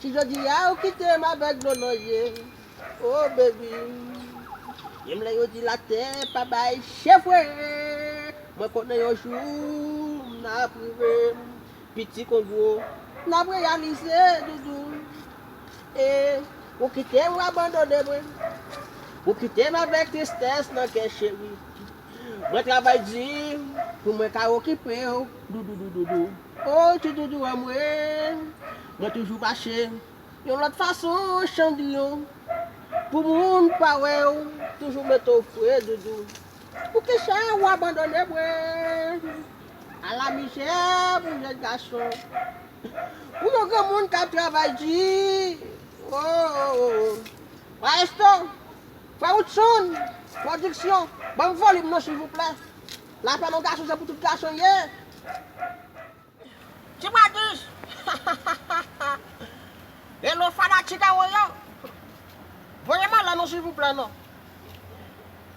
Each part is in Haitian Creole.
Si jodi a ou kite m avèk dlo nan je oh baby Menm lè yo di latè pa bay chevwe Mwen konnen yon jou n ap rive Piti kon gwo n ap reyalize doudou eh Ou kite m ou abandone mwen Ou kite m avèk tristès nan kè cheri Mwen travay di pou mwen ka okipe w doudou doudou O ti doudou anmwee mwen toujou mache yon lòt fason chandriyon pou moun pa wèw toujou mete w fre doudou poukisa ou abandone mwen ala mizè pou jèn gason pou yon granmoun kap travay di ooh maestro frè woodson production banm volim nan silvouplè. La fè non gason se pou tout gason ye. Ti bwa dous hahahaha Hello fanatik a mwen yo Voye m alè non silvouplè non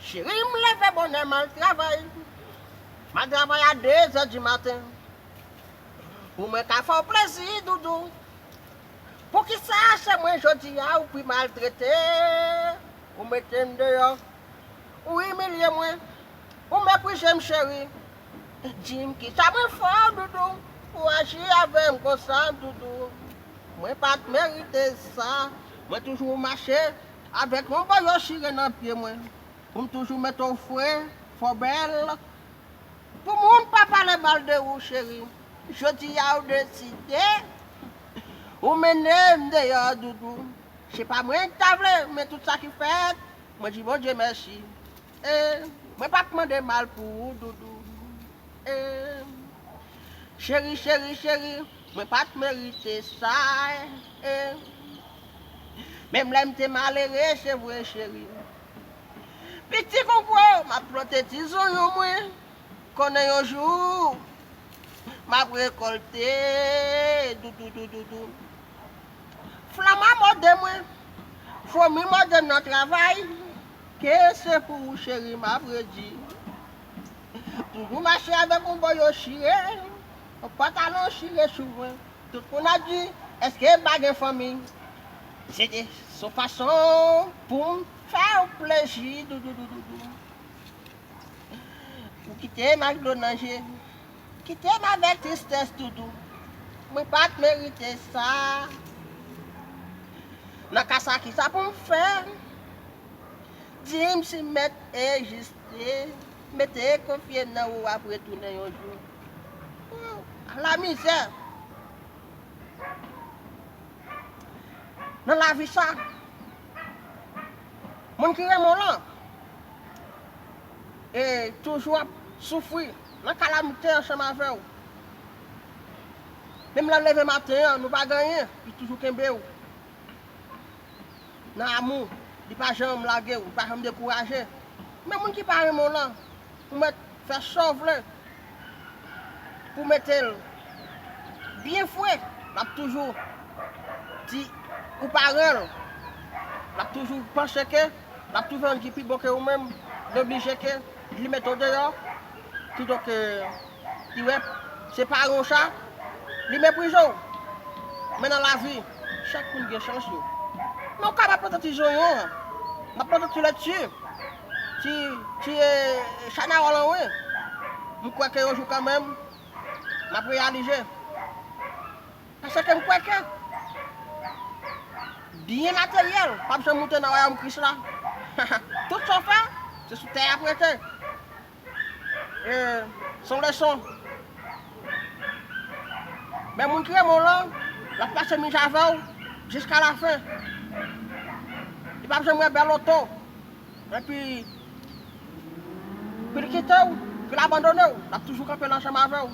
Cheri m leve bonè m al travay M al travay a dezè di maten Pou mwen ka fè w plezi doudou Poukisa se mwen jodi a ou pi maltrete Ou mete m deyò Ou imilye mwen Ou mepwize m cheri Di m kisa mwen fè w doudou Pou w aji avè m konsa doudou Mwen pa t merite sa Mwen toujou mache avèk yon boyo chire nan pye mwen Pou m toujou mete w fre, fè w bèl Pou moun pa pale mal de ou cheri Jodi a ou deside Ou mennen m deyò doudou Se pa mwen k ta vle men tout sa ki fèt Mwen di Bondye mèsi ee Mwen pap mande mal pou ou doudou ee Cheri cheri cheri Mwen pat merite sa ee Menm lè m te malere se vre cheri Piti konpwen w m ap plante ti zonyon mwen Konnen yon jou m ap rekòlte doudou doudou Flama mòde mwen, fomi mòde m nan travay, ke se pou ou cheri m ap redi. Toujou mache avèk yon boyo chire, yon pantalon chire sou mwen. Tout moun ap di, èske m pa gen fanmi? Se te yon fason pou m fè w plezi doudoudoudou. Ou kite m ak dlo nan je, Kitem avèk tristès doudou. Mwen pat merite sa Nan ka sa kisa poum fè Dim si mèt e jiste Mete konfye nan ou wap retounen yon jou Ooh ala mizè Nan lavi sa Moun ki renmen w lan E toujou ap soufri Nan kalamite ansanm avè w. Menm lè leve maten an nou pa gen anyen, li toujou kenbe w. Nan amou, li pa janm lage w, li pa janm dekouraje. Men moun ki pa renmen w lan, ou mèt fè sa w vle pou w mete l byen fre, l ap toujou di ou pa renmen l, l ap toujou panse ke l ap toujou jwenn ki pi bon ke ou menm, li oblije ke. Li met ou deyò pito ke li wè se pare w sa li meprize w. Men nan lavi chak moun gen chans yo. Men ou kapab plante ti zonyon an, nan plante ti lètye, ti chanawòl an wi. M kwè ke yon jou kanmenm m ap reyalize. Paske ke m kwè ke byen materyèl p ap janm moute nan wayòm Kris la. Tout sa w fè, se sou tè y ap rete. E se yon leson. Men moun ki renmen w lan, l ap pase mizè avè w jiska lafen. Li p ap janm wè bèl oto epi pou l kite w, pou l abandone w. L ap toujou kanpe l ansanm avè w.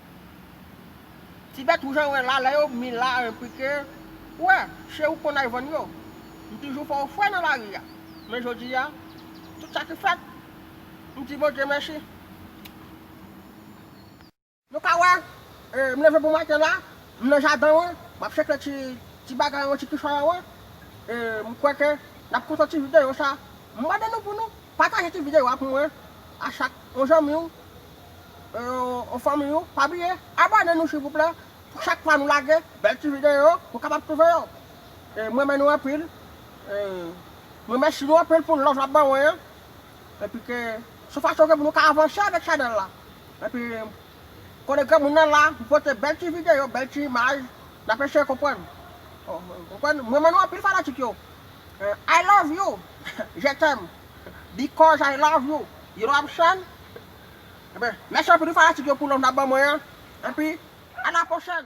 Tibet ou jan wè la lè yo bmi la enprike ou wè che ou konn al vann yo mtoujou fè ou fre nan lari a men jodi a tout sa ki fèt mdi Bondye mèsi. Nou ka wè m leve bon maten la m nan jaden wan map cheke ti ti bagay wan ti kichòy an wan e m kwè ke nap kontan ti videyo sa m mande nou pou nou pataje ti videyo a pou mwen a chak yon zanmi w. Yo fanmiy ou pa bliye abòne nou silvouplè pou chak fwa nou lage bèl ti videyo ou kapab twouve yo m renmen nou anpil m remèsi nou anpil pou love lap ban mwen an epi ke sou fason ke pou nou ka avanse avèk chanèl la epi konnen granmoun nan la pou pote bèl ti videyo bèl ti imaj nap eseye konprann m renmen nou anpil fanatik yo I love you je t'aime. Because I love you You love Shan Ebyen mèsi anpil pou fanatik yo pou love nap ban mwen an Epi a la pwochèn.